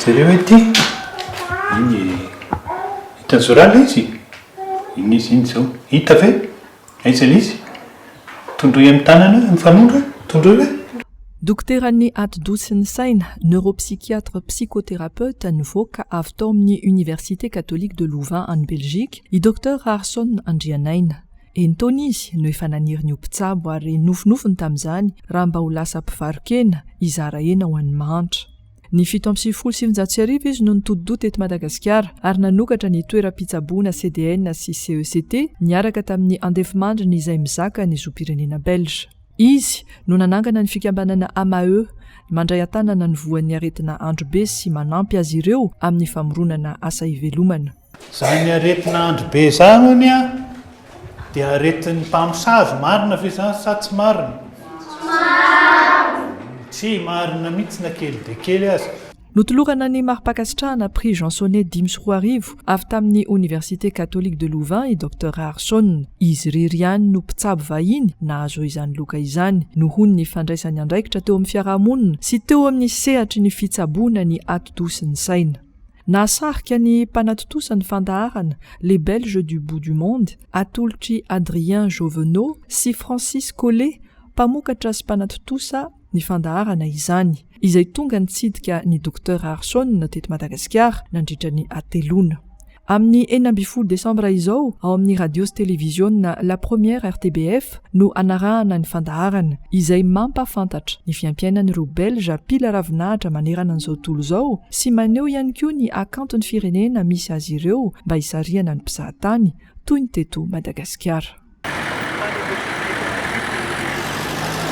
Jereo ity. Iny e. Hitan'i Zora ilay izy? Iny izy iny izao. Hita ve? Aiza ilay izy? Tondroy amin'ny tanana ny fanondro e. Tondroy ve? Dokoteran'ny atidoha sy ny saina, neuropsychiatre psychotherapeute, nivoaka avy tao amin'ny Université Catholique de Louvain any Belgique, i Docteur Raharison Andrianaina. Eny taona izy no efa naniry ny ho mpitsabo ary nofinofiny tamin'izany raha mba ho lasa mpivaro-kena hizara hena ho an'ny mahantra. Ny fito amby sivifolo sy sivinjato sy arivo izy no nitodi-doha teto Madagasikara ary nanokatra ny toeram-pitsaboana CDN sy CECT niaraka tamin'ny Andefimandry ny Izay Mizaka ny zom-pirenena belge. Izy no nanangana ny fikambanana AMAE mandray an-tanana ny voan'ny aretina androbe sy manampy azy ireo amin'ny famoronana asa ivelomana. Zany aretina andro be zany ony a dia aretin'ny mpamosavy marina ve zany sa tsy marina? Tsy marina. Tsy marina mihitsy na kely dia kely aza. Notolorana ny mari-pankasitrahana Prix Jean Sonnet dimy sy roa arivo avy tamin'ny Oniversite Catholique de Louvain i Docteur Raharson. Izy irery ihany no mpitsabo vahiny nahazo izany loka izany nohon ny fandraisany andraikitra teo amin'ny fiarahamonina sy teo amin'ny sehatry ny fitsaboana ny ati-doha sy ny saina. Nahasarika ny mpanatontosa ny fandaharana Les Belges du bout du monde, atolotr'i Adrien Jovenot sy Francis Collet, mpamokatra sy mpanatontosa, ny fandaharana izany, izay tonga nitsidika ny Docteur Harson teto Madagasikara nandritra ny hateloana. Amin'ny enina ambin'ny folo desambra izao, ao amin'ny Radio sy Televiziona La Première RTBF, no anarahana ny fandaharana izay mampahafantatra ny fiaimpiainan'ireo Belge mpila ravinahitra manerana an'izao tontolo izao sy maneho ihany koa ny hakanton'ny firenena misy azy ireo mba hisarihana ny mpizahatany toy ny teto Madagasikara.